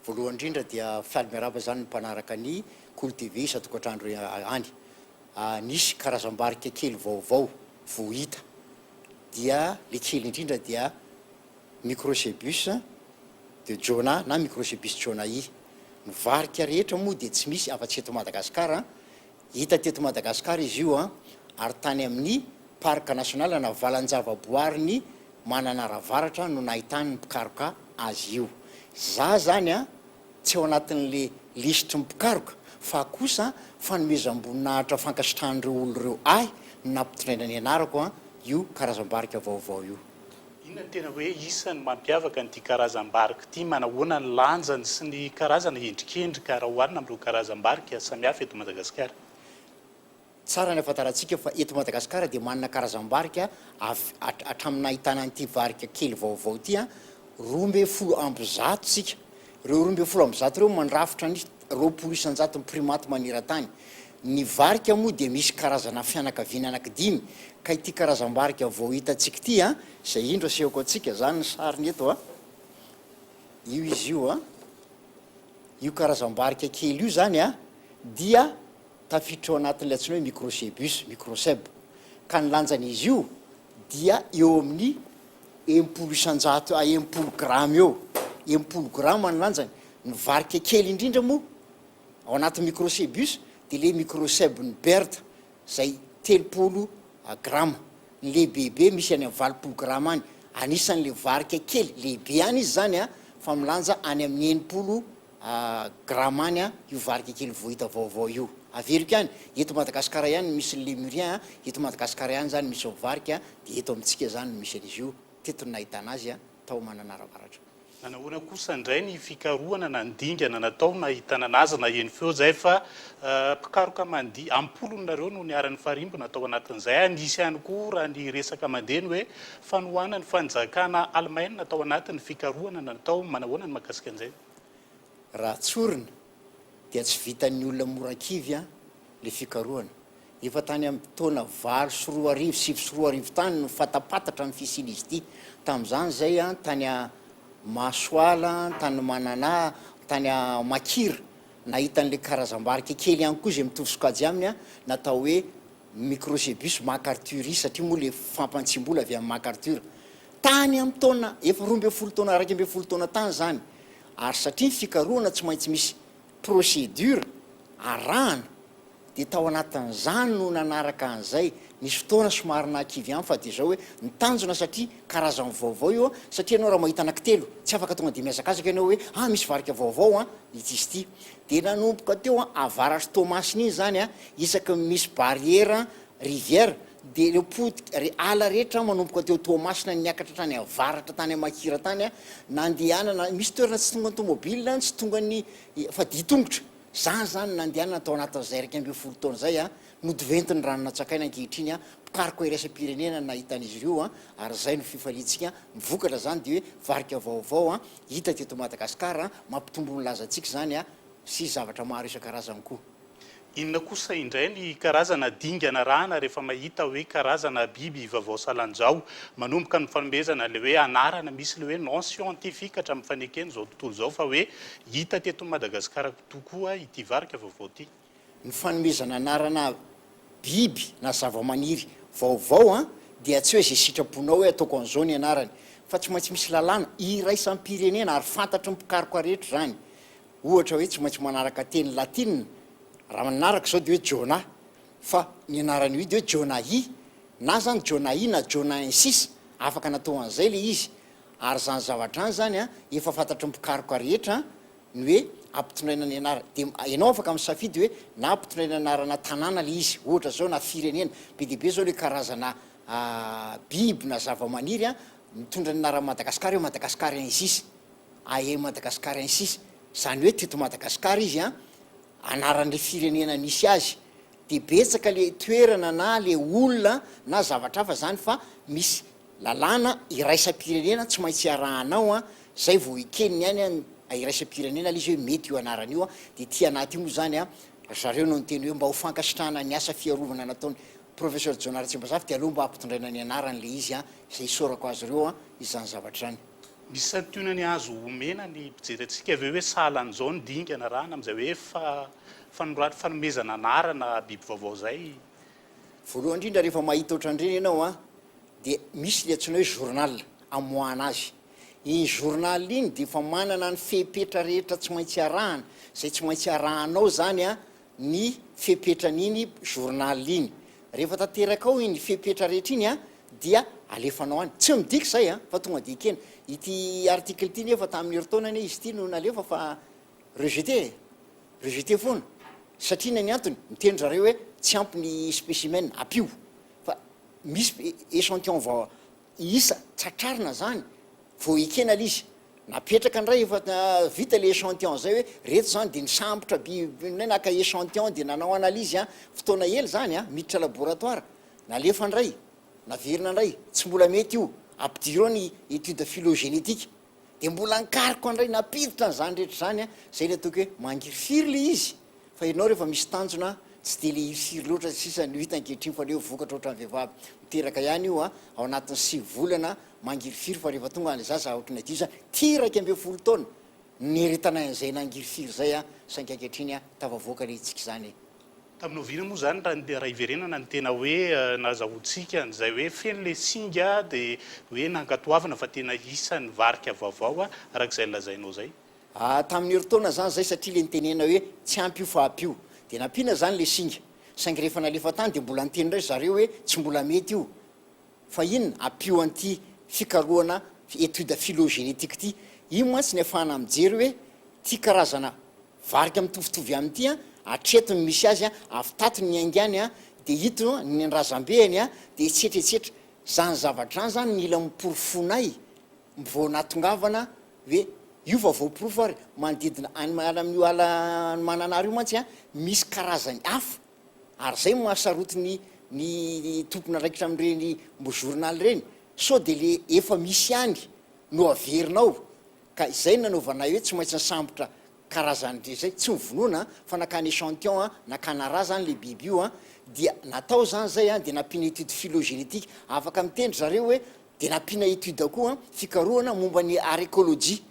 T: Voalohany indrindra dia faly miarahaba izany ny mpanaraka ny Kolo TV isan-tokantrano any. Nisy karazam-barika kely vaovao vohita dia le kely indrindra dia Microcebus de Jonah na Microcebus jonahi. Ny varika rehetra moa dia tsy misy afa-tsy eto Madagasikara. Hita teto Madagasikara izy io ary tany amin'ny Parc national na valan-javaboarin'i Mananara Avaratra no nahitany ny mpikaroka azy io. Za zany tsy ao anatin'le lisitry ny mpikaroka fa kosa fanomezam-boninahitra fankasitrahan'ireo olona ireo ahy nampitondraina ny anarako an io karazam-barika vaovao io. Inona no tena hoe
O: isan'ny mampiavaka an'ity karazam-barika ity? Manahoana ny lanjany sy ny karazana endrikendrika raha oharina amin'ireo karazam-barika samihafa eto Madagasikara?
T: Tsara ny ahafantarantsika fa eto Madagasikara dia manana karazam-barika avy hatramin'ny nahitana an'ity varika kely vaovao ity roa ambin'ny folo amby zato isika. Ireo roa ambin'ny folo amby zato ireo mandrafitra ny roapolo isan-jaton'ny primates maneran-tany. Ny varika moa dia misy karazana fianakaviana anankidimy ka ity karazam-barika vao hitantsika ity, izay indro asehoko antsika izany ny sariny eto, io izy io, io karazam-barika kely io izany dia. Tafiditra ao anatin'ilay antsoina hoe Microcebus, microcebe, ka ny lanjan'izy io dia eo amin'ny enimpolo isanjato à enimpolo grama eo, enimpolo grama ny lanjany. Ny varika kely indrindra moa ao anatin'ny Microcebus dia ilay Microcebe-n'i Baird izay telopolo grama. Ny lehibebe misy any amin'ny valopolo grama any. Anisan'ilay varika kely, lehibe ihany izy izany an, fa milanja any amin'ny enimpolo Gramany a io varika kely vohita vaovao io averiko any eto Madagascar ihany no misy ny Lemuria a eto Madagascar ihany zany misy ao varika a de eto amintsika zany no misy an'izy io teto no nahitana azy a tao Mananara Avaratra. Nanahoana kosa
O: indray ny fikarohana na ny dingana natao nahitana anazy na eny feo zay fa mpikaroka mandihy am-polony nareo no niara nifarimbona tao anatin'izay a nisy ihany koa raha ny resaka mandeha ny hoe fanohanan'ny fanjakana Alemaina tao anatin'ny fikarohana natao manahoana ny mahakasika an'izay? Raha
T: tsorina dia tsy vitan'ny olona mora an-kivy an le fikarohana. Efa tany amin'ny taona valo sy roa arivo, sivy sy roa arivo tany no fatapatatra ny fisian'izy ity. Tamin'izany izay an tany a Masoala, tany Mananà, tany a Makira nahita an'ilay karazam-barika kely ihany koa izay mitovy sokajy aminy an natao hoe ny Microcebus macarthuri satria moa ilay fampantsiam-bola avy amin'i Macarthur. Tany amin'ny taona efa roa ambin'ny folo taona, iraika ambin'ny folo taona tany izany, ary satria ny fikarohana tsy maintsy misy procédure arahana, dia tao anatin'izany no nanaraka an'izay. Nisy fotoana somary nahakivy ihany fa dia zao hoe ny tanjona satria karazany vaovao io an, satria ianao raha mahita anankitelo tsy afaka tonga dia mihazakazaka ianao hoe, ah misy varika vaovao an, ity sy ity. Dia nanomboka teo Avaratr'i Toamasina iny izany an, isaky ny misy barrière rivière dia ireo potika ry ala rehetra manomboka teo Toamasina niakatra hatrany Avaratra tany Amakira tany an, nandehanana, misy toerana tsy tongan'ny tomobila an, tsy tongan'ny, fa dia tongotra. Izany izany nandehanana tao anatin'izay iraika ambin'ny folo taona izay an, nodoventin'ny rano natsakaina ankehitriny an, mpikaroka iraisam-pirenena no nahita an'izy ireo an, ary izay no fifaliantsika an, ny vokatra izany dia hoe varika vaovao an, Hita teto Madagascar an! Mampitombo ny lazantsika izany an! Sy zavatra maro isan-karazany koa. Inona kosa
O: indray ny karazana dingana arahana rehefa mahita hoe karazana biby vaovao salanjao? Manomboka ny fanomezana ilay hoe anarana, misy ilay hoe nom scientifique hatramin'ny faneken'izao tontolo izao fa hoe hita teto Madagascar tokoa ity varika vaovao ity. Ny fanomezana
T: anarana biby na zavamaniry vaovao an, dia tsy hoe izay sitraponao hoe ataoko an'izao ny anarany, fa tsy maintsy misy lalàna iraisam-pirenena ary fantatry ny mpikaroka rehetra izany. Ohatra hoe tsy maintsy manaraka teny latina, raha manaraka izao dia hoe Jonah, fa ny anaran'io idy hoe Jonahi, na izany Jonahi na Jonahensis, afaka natao an'izay ilay izy. Ary izany zavatra izany izany an, efa fantatry ny mpikaroka rehetra ny hoe ampitondraina ny anarana dia ianao afaka misafidy hoe na ampitondraina anarana tanàna ilay izy ohatra zao na firenena be dia be izao ilay karazana biby na zavamaniry a mitondra ny anaran'i Madagasikara hoe Madagascar ensis ae Madagascar ensis izany hoe teto Madagasikara izy a anaran'ilay firenena nisy azy dia betsaka ilay toerana na ilay olona na zavatra hafa izany fa misy Lalàna iraisam-pirenena tsy maintsy iarahana ao an, zay vao ekeny ny ainy an, iraisam-pirenena le izy hoe mety io anarana io an, de ity anaty io moa zany an, ry zareo no niteny hoe mba ho fankasitrahana ny asa fiarovana nataony Professor Jona Ratsimbazafi de aleo mba ampitondraina ny anarany le izy an, zay isaorako azy ireo an, izany zavatra izany. Misy santionany
O: azo omena ny mpijery antsika ve hoe sahala an'izao ny dingana rana amin'izay hoe fa, fanorat, fanomezana
T: anarana biby
O: vaovao
T: izay?
O: Voalohany
T: indrindra rehefa mahita
O: ohatran'ireny
T: ianao a dia misy le antsoina hoe journal amoahana azy. Iny journal iny dia efa manana ny fepetra rehetra tsy maintsy arahana, zay tsy maintsy arahanao zany a ny fepetran'iny journal iny. Rehefa tanteraka ao iny fepetra rehetra iny a dia alefanao any. Tsy midika zay a fa tonga de ekena. Ity article ity nefa tamin'ny herintaona anie izy ity no nalefa fa Rejeter e! Rejeter foana! Satria inona ny antony? Miteny ry zareo hoe tsy ampy ny specimen, ampio! Fa misy echantillon vao isa tratrarina zany vao ekena le izy. Napetraka ndray efa vita le echantillon zay hoe reto zany de nisambotra bi ndray naka echantillon de nanao analyse an, fotoana ela zany an, miditra laboratoire, nalefa ndray, naverina ndray, tsy mbola mety io, ampidirao ny etude phylogenetique. Dia mbola ankariko andray nampiditra an'izany rehetra izany an, izay ilay tokony hoe mangirifiry ilay izy, fa ianao rehefa misy tanjona tsy dia ilay hirifiry loatra sisa no hita ankehitriny fa aleo vokatra ohatran'ny vehivavy miteraka ihany io an, ao anatin'ny sivy volana mangirifiry fa rehefa tonga ilay zaza ohatry ny adihisa ity iraika ambin'ny folo taona niaretanay an'izay nangirifiry izay an, saingy ankehitriny an tafavoaka ilay hetsika izany Tamin'ny oviana
U: moa izany raha iverenana ny tena hoe nahazahoantsika an'izay hoe feno ilay singa dia hoe nankatoavina fa tena isan'ny varika vaovao araka izay nolazainao izay? Tamin'ny herintaona
T: izany izay satria ilay nitenenana hoe tsy ampy io fa ampy io dia nampiana izany ilay singa saingy rehefa nalefa tany dia mbola niteny indray ry zareo hoe tsy mbola mety io fa inona ampio an'ity fikarohana étude phylogenétique ity io mantsy ny afahana mijery hoe ity karazana Varika mitovitovy ihany ity an, hatreto no misy azy an, avy tato ny ainga any an, dia ito ny an-drazambe any an, dia etsetra etsetra. Izany zavatra izany izany mila noporofoinay vao nahatongavana hoe io fa voaporofo ary manodidina any miala amin'io ala any Mananara io mantsy an, misy karazany hafa ary izay no mahasaroty ny ny tompon'andraikitra amin'ireny journal ireny. Sao dia le efa misy ihany no averina ao. Ka izay no nanaovanay hoe tsy maintsy nisambotra karazany rehetra izay, tsy nivonona an, fa nakany echantillon an, nakana ra zany le biby io an, dia natao zany zay an, dia nampiana étude phylogenetique afaka miteny ry zareo hoe, dia nampiana étude koa an, fikarohana momba ny arécologie,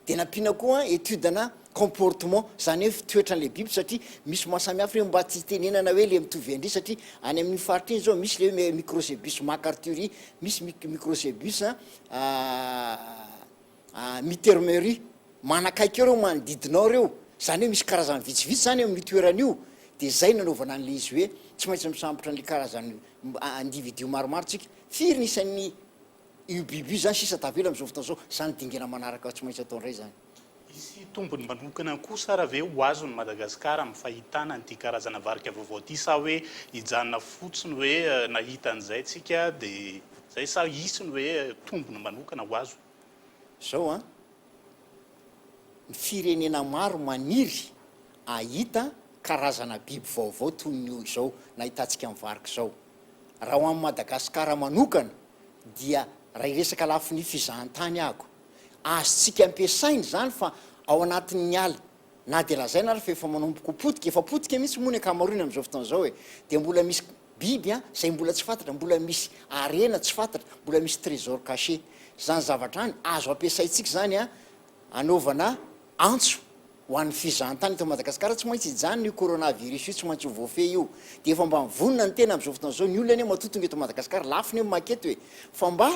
T: dia nampiana koa an étude ana comportement, zany hoe fitoetran'ilay biby, satria misy mahasamihafa ireo mba tsy hitenenana hoe le mitovy an-dry, satria any amin'iny faritra iny zao misy le hoe microcebus macarthuri, misy microcebus Aah aah Mitermery manakaiky eo reo manodidina ao reo zany hoe misy karazany vitsivitsy zany eo amin'io toerana io de zay nanaovana an'le izy hoe tsy maintsy misambotra an'le karazany individu maromaro tsika, firy ny isan'ny io biby io zany sisa tavela am'zao fotoana zao, zany dingana manaraka tsy maintsy atao ndray zany. Hisy tombony
U: manokana kosa ara ve ho azon'i Madagasikara amin'ny fahitana an'ity karazana varika vaovao ity sa hoe hijanona fotsiny hoe nahita an'izay tsika dia zay sa hisy ny hoe tombony manokana ho azo? Zao an,
T: ny firenena maro maniry ahita karazana biby vaovao toy ny izao nahitantsika ny varika izao. Raha ho an'i Madagasikara manokana dia raha hiresaka lafiny fizahantany ahako, Azontsika ampiasaina izany fa ao anatin'ny ala, na dia lazaina ary fa efa manomboka ho potika, efa potika mihitsy moa ny ankamaroany amin'izao fotoana izao e, dia mbola misy biby an, izay mbola tsy fantatra, mbola misy harena tsy fantatra, mbola misy trésor caché. Izany zavatra any, azo ampiasaintsika izany an, anaovana antso ho an'ny fizahantany eto Madagasikara, tsy maintsy hijanona io coronavirus io, tsy maintsy ho voafehy io. Dia efa mba mivonona ny tena amin'izao fotoana izao, ny olona anie matoa tonga eto Madagasikara, lafo ny hoe maka eto e, fa mba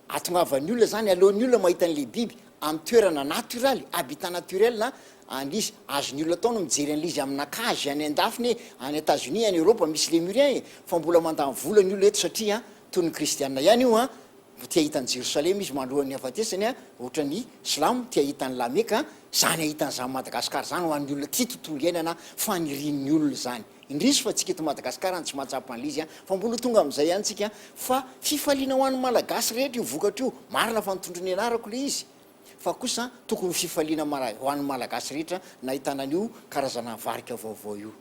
T: Ahatongavan'ny olona izany, aleon'ny olona mahita an'ilay biby amin'ny toerana natioraly, habitat naturel, a, an'izy. Azon'ny olona atao ny mijery an'ilay izy amina cage any an-dafiny e, any Etazonia, any Eoropa, misy Lémurien e, fa mbola mandany vola ny olona eto satria, a, toy ny kristiana ihany io, a, mbo te hahita an'i Jerosalema izy malohan'ny hahafatesany, a, ohatran'ny silamo te hahita an'i La Mecque, a, izany hahita an'izany Madagascar izany ho an'ny olona tia tontolo iainana, a, fanirian'ny olona izany. Indrisy fa tsika eto Madagascar any tsy mahatsapa an'le izy an, fa mbola ho tonga amin'izay any tsika an, fa fifaliana ho an'ny Malagasy rehetra io vokatra io, marina fa nitondra ny anarako le izy, fa kosa an tokony ho fifaliana mara ho an'ny Malagasy rehetra nahitana an'io karazana varika vaovao io.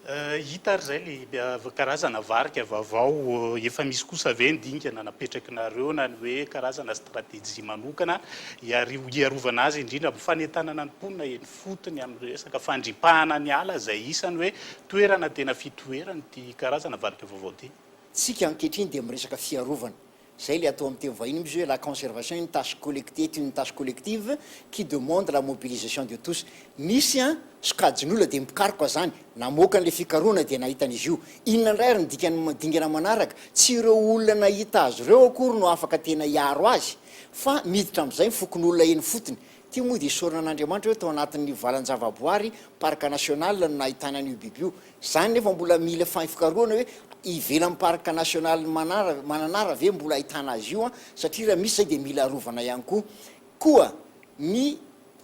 T: Hita ary
U: zay le karazana varika vavao, efa misy kosa ve ny dingana napetrakinareo na ny hoe karazana strategie manokana hiarovana azy indrindra amin'ny fanentanana ny mponina eny. fotony amin'ny resaka fandripahana ny ala izay isan'ny hoe toerana tena
T: fitoheran'ity karazana
U: varika vaovao
T: ity.
U: Tsika ankehitriny
T: dia miresaka fiarovana.
U: Izay
T: ilay atao amin'ny teny vahiny misy hoe la conservation une tâche collective est une tâche collective qui demande la mobilisation de tous. Misy an, sokajin'olona dia mpikaroka izany, namoaka an'ilay fikarohana dia nahita an'izy io. Inona indray ary ny dikan'ny dingana manaraka? Tsy ireo olona nahita azy ireo akory no afaka tena hiaro azy fa miditra amin'izay ny fokonolona eny fotony Ity moa dia isaorana an'Andriamanitra hoe tao anatin'ny valan-javaboary, parc national, no nahitana an'io biby io. Izany nefa mbola mila fikarohana hoe ivelan'ny parc national Manara, Mananara ve mbola ahitana azy io an, satria raha misy izay dia mila arovana ihany koa. Koa ny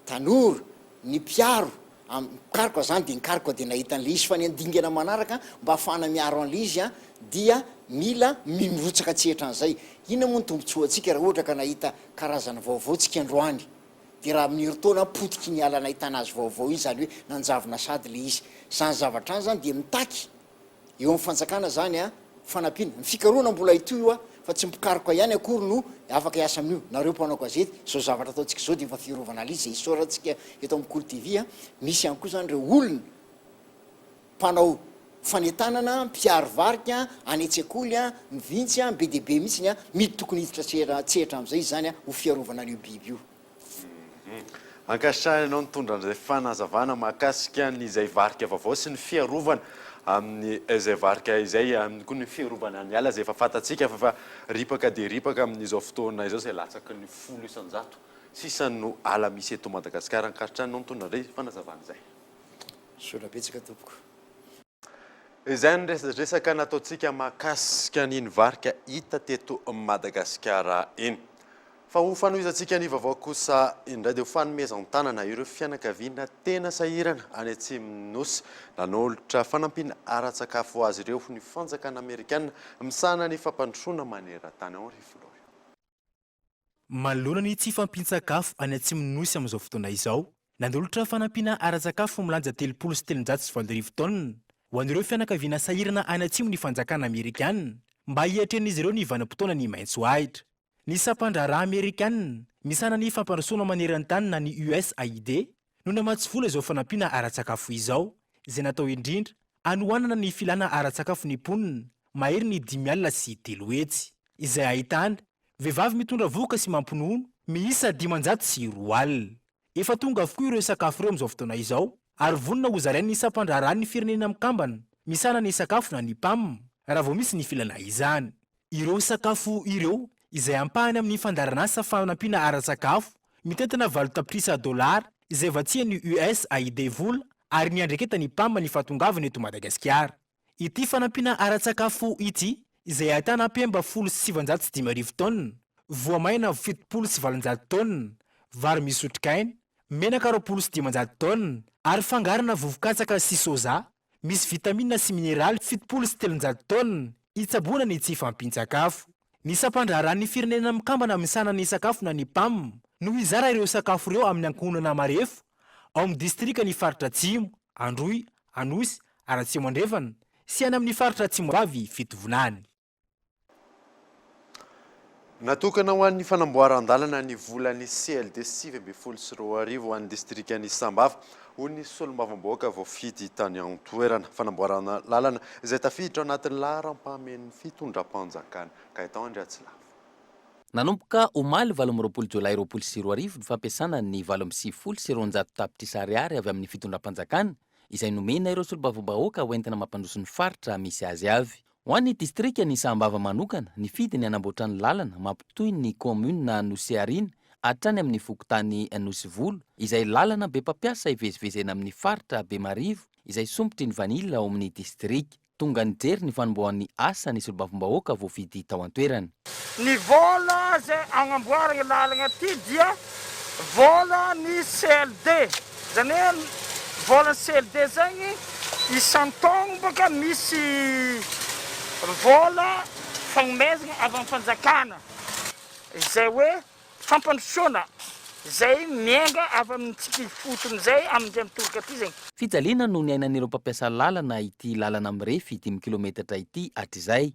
T: tanora, ny mpiaro. Am, nikaroka zany dia nikaroka dia nahita an'ilay izy, fa ny handingana manaraka mba hahafahana miaro an'ilay izy an, dia mila mimirotsaka tsy hetra an'izay. Inona moa ny tombotsoantsika raha ohatra ka nahita karazana vaovao tsika androany? Dia raha amin'ny herintaona potiky ny ala nahitana azy vaovao iny, izany hoe nanjavona sady ilay izy. Izany zavatra izany izany dia mitaky. eo amin'ny fanjakana izany an, fanampiana, ny fikarohana mbola hitohy hoa fa tsy mpikaroka ihany akory no afaka hiasa amin'io, nareo mpanao gazety, izao zavatra ataontsika izao dia efa fiarovana lzy izay isaorantsika eto amin'ny Kolo TV an, misy ihany koa izany ireo olona mpanao fanentanana an, mpiaro varika an, any an-tsekoly an, ny vintsy an, be dia be mihitsy ny an, midy tokony hiditra tsehatra amin'izay izany an, ho fiarovana an'io biby io. Ankasitrahana
A: ianao nitondra an'izay fanazavana mahakasika ny izay varika vaovao sy ny fiarovana amin'ny izay varika izay, amin'ny koa ny fiarovana ny ala izay efa fantatsika fa efa ripaka dia ripaka amin'izao fotoana izao izay latsaky ny folo isan-jato sisa no ala misy eto Madagasikara. Ankasitrahana anao nitondra an'izay fanazavana izay. Soa-na
T: betsaka tompoko.
A: Izay ny resadresaka nataontsika mahakasika an'iny varika hita teto Madagasikara iny. Fa ho fanohizantsika ny vaovao kosa indray dia ho fanomezan-tanana ireo fianakaviana tena sahirana any atsimon'ny Nosy nanolotra fanampiana ara-tsakafo ho azy ireo ny fanjakana amerikana misahana ny fampandrosoana maneran-tany, Henri Florian. Manoloana
B: ny tsy fampian-tsakafo any atsimon'ny Nosy amin'izao fotoana izao, nanolotra fanampiana ara-tsakafo milanja telopolo sy telonjato sy valo arivo taonina ho an'ireo fianakaviana sahirana any atsimo ny fanjakana Amerikana mba hiatrehan'izy ireo ny vanim-potoana ny maitso ahitra. Ny sampan-draharaha Amerikana misahana ny fampandrosoana maneran-tany na ny USAID no namatsy vola izao fanampiana ara-tsakafo izao, izay natao indrindra hanohanana ny filana ara-tsakafo ny mponina mahery ny dimy alina sy telo hetsy, izay ahitana vehivavy mitondra vohoka sy mampinono miisa dimanjato sy roa alina. Efa tonga avokoa ireo sakafo ireo amin'izao fotoana izao ary vonona ho zarain'ny Sampandraharahan'ny Firenena Mikambana misahana ny Sakafo na ny Pam raha vao misy ny filana izany. Ireo sakafo ireo, izay ampahany amin'ny fandaharanasa fanampiana ara-tsakafo, mitentina valo tapitrisa dolara izay vatsian'ny USAID vola ary niandreketan'ny Pam ny fahatongavany eto Madagasikara. Ity fanampiana ara-tsakafo ity, izay ahitana mpemba folo sy sivinjato sy dimy arivo taonina, voamaina fitopolo sy valonjato taonina, vary misy otrikaina, menaka roapolo sy dimanjato taonina ary fangarona vovo-katsaka sy soja, Misy vitamina sy mineraly fitopolo sy telonjato taonina hitsaboana ny tsy fahampian-tsakafo. Ny Sampandraharahan'ny Firenena Mikambana Misahana ny Sakafo na ny Pam no hizara ireo sakafo ireo amin'ny ankohonana marefo ao amin'ny distrikan'ny Faritra Atsimo, Androy, Anosy, ary Atsimo Andrefana, sy any amin'ny Faritra Atsimo Avy fitovonany.
A: Natokana ho an'ny fanamboaran-dalana ny volan'ny CLD sivy ambin'ny folo sy roa arivo ho an'ny distrikan'i Sambava, hoy ny solombavambahoaka voafidy tany an-toerana. Fanamboaran-lalana izay tafiditra ao anatin'ny laharam-pahamen'ny fitondram-panjakana. Gaëtan Andriatsilavo. Nanomboka
F: omaly valo amby roapolo jolay roapolo sy roa arivo ny fampiasana ny valo amby sivifolo sy roanjato tapitrisa ariary avy amin'ny fitondram-panjakana izay nomena ireo solombavambahoaka hoentina mampandroso ny faritra misy azy avy. Ho an'ny distrikan'i Sahambava manokana, nifidy ny hanamboatra ny lalana mampitohy ny kaominina Anosiariana hatrany amin'ny fokontany Anosivolo, izay lalana be mpampiasa ivezivezena amin'ny faritra Bemarivo izay sompitry ny vanila ao amin'ny distrika. Tonga nijery ny fanombohan'ny asa ny solombavambahoaka voafidy tao an-toerana. Ny vola
C: izay agnamboaragna io lalagna ity dia volan'ny CLD, zany hoe volan'ny CLD zegny isan-taogno bôka misy vola fagnomezagna avy amin'ny fanjakana izay hoe fampandrosoana izay miainga avy amintsika ifotony izay amin'izay mitoroka ity zegny. Fijaliana no niainan'ireo
F: mpampiasa lalana ity lalana mirefy dimy kilometatra ity hatrizay.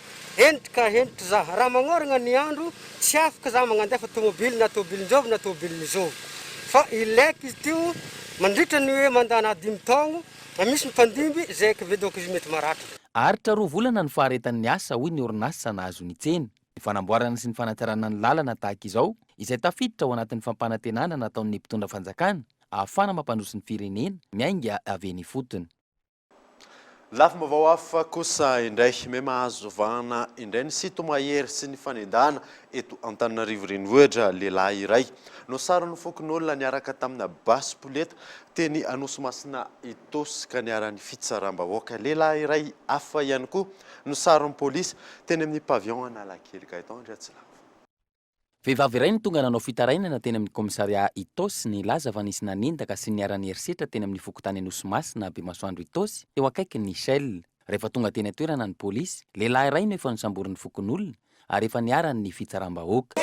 D: Hentitra ka hentitra za, raha magnoragna ny andro, tsy afaka za magnandefa tomobily na tobilin-jovy na tobilin' ny zovy. Fa ileko izy ty o, mandritra ny hoe mandana dimy taogno, na misy mifandimby, zay kve donc izy mety maratra. Aharitra roa volana
F: ny faharetan' ny asa, hoy ny orinasa nahazo ny tsena. Ny fanamboarana sy ny fanatsarana ny lalana tahaka izao, izay tafiditra ao anatin' ny fampanantenana nataon' ny mpitondra fanjakana, ahafahana mampandroso ny firenena, miainga avy eny ifotony.
A: Lafim-baovao hafa kosa indray, may mahazo vahana indray ny sinto-mahery sy ny fanendahana eto Antananarivo Renivohitra. Lehilahy iray no saron'ny fokonolona niaraka tamina basy poleta teny Anosimasina Itaosy ka niharan'ny fitsaram-bahoaka. Lehilahy iray hafa ihany koa no saron'ny polisy teny amin'ny Pavillon Analakely Gaëtan Andriatsilava. Vehivavy
F: iray no tonga nanao fitarainana teny amin'ny kaomisaria Itaosy, nilaza fa nisy nanendaka sy niharan'ny herisetra teny amin'ny fokontany Anosimasina, Bemasoandro Itaosy, teo akaikin'ny Shell. Rehefa tonga teny an-toerana ny polisy, lehilahy iray no efa nosamborin'ny fokonolona ary efa niharan'ny fitsaram-bahoaka.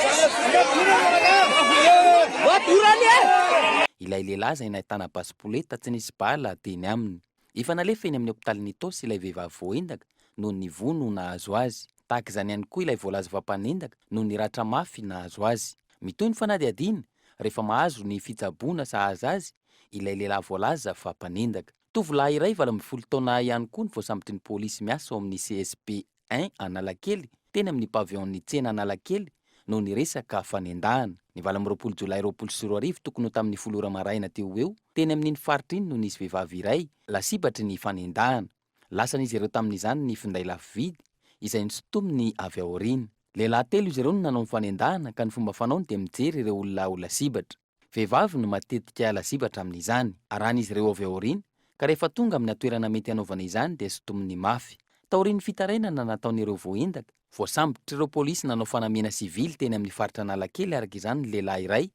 F: Ilay lehilahy izay nahitana basy poleta tsy nisy bala teny aminy. Efa nalefa eny amin'ny hopitalin'ny Itaosy ilay vehivavy voaendaka noho ny vono nahazo azy. Tahaka izany ihany koa ilay voalaza fa mpanendaka noho ny ratra mafy nahazo azy. Mitohy ny fanadihadiana rehefa mahazo ny fitsaboana sahaza azy ilay lehilahy voalaza fa mpanendaka. Tovolahy iray valo ambin'ny folo taona ihany koa no voasambotin'ny polisy miasa ao amin'ny CSP un Analakely, teny amin'ny Pavillon-n'ny tsena Analakely, no niresaka fanendahana. Ny valo amby roapolo Jolay roapolo sy roa arivo tokony ho tamin'ny folo ora maraina teo ho eo, teny amin'iny faritra iny no nisy vehivavy iray lasibatry ny fanendahana. Lasan'izy ireo tamin'izany ny finday lafo vidy, izay nosintominy avy aoriana. Lehilahy telo izy ireo no nanao ny fanendahana ka ny fomba fanaony dia mijery ireo olona ho lasibatra. Vehivavy no matetika lazibatra amin'izany, arahan'izy ireo avy aoriana, ka rehefa tonga amina toerana mety hanaovana izany dia sintominy mafy. Taorian'ny fitarainana nataon'ireo voaendaka, voasambotr'ireo polisy nanao fanamiana sivily teny amin'ny faritra Analakely araka izany ny lehilahy iray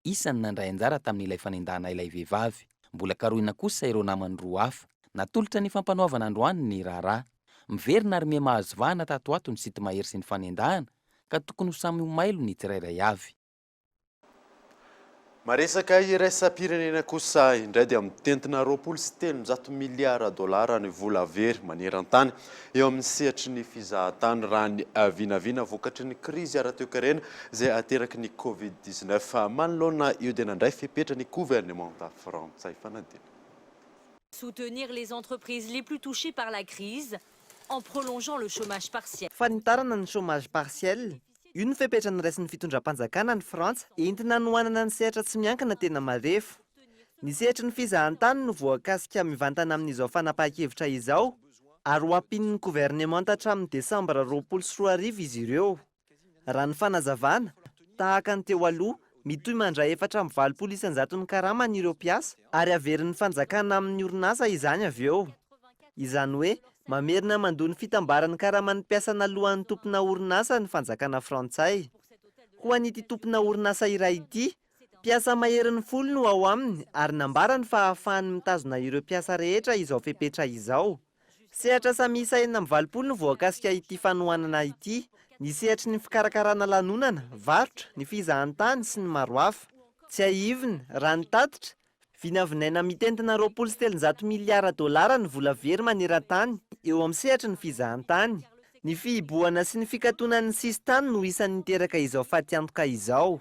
F: isan'ny nandray anjara tamin'ilay fanendahana ilay vehivavy. Mbola karohina kosa ireo namany roa hafa. Natolotra ny Fampanoavana androany ny raharaha. Miverina ary miha mahazo vahana tato ho ato ny sinto mahery sy ny fanendahana ka tokony ho samy ho mailo ny tsirairay avy.
A: Maresaka iraisam-pirenena kosa indray dia mitentina roapolo sy telonjato miliara dolara ny vola very maneran-tany eo amin'ny sehatry ny fizahan-tany raha ny vinavina vokatry ny krizy ara-toekarena izay ateraky ny covid dix neuf. Manoloana io dia nandray fepetra ny governemanta frantsay fanadino.
E: soutenir les entreprises les plus touchées par la crise en prolongeant le chômage partiel. Fanitarana ny chômage
G: partiel Io no fepetra noraisin'ny fitondram-panjakana any Frantsa entina hanohanana ny sehatra tsy miankina tena marefo. Ny sehatry ny fizahantany no voakasika mivantana amin'izao fanapahan-kevitra izao ary ho ampian'ny governemanta hatramin'ny desambra roapolo sy roa arivo izy ireo. Raha ny fanazavana, tahaka ny teo aloha, Mitohy mandray efatra amby valopolo isan-jaton'ny karamany ireo mpiasa ary averin'ny fanjakana amin'ny orinasa izany avy eo. Izany hoe mamerina mandoa ny fitambaran'ny karaman'ny mpiasa naloan'ny tompona orinasa ny fanjakana frantsay. Ho an'ity tompona orinasa iray ity, mpiasa maherin'ny folo no ao aminy ary nambarany fa ahafahany mitazona ireo mpiasa rehetra izao fepetra izao. Sehatra asa miisa enina amby valopolo no voakasika ity fanohanana ity. Ny sehatry ny fikarakarana lanonana, varotra, ny fizahantany sy ny maro hafa. Tsiahivina, raha ny tatitra, vinavinaina mitentina roapolo sy telonjato miliara dolara ny vola very maneran-tany eo amin'ny sehatry ny fizahantany. Ny fihibohana sy ny fikatonan'ny sisin-tany no isan'ny niteraka izao fatiantoka izao.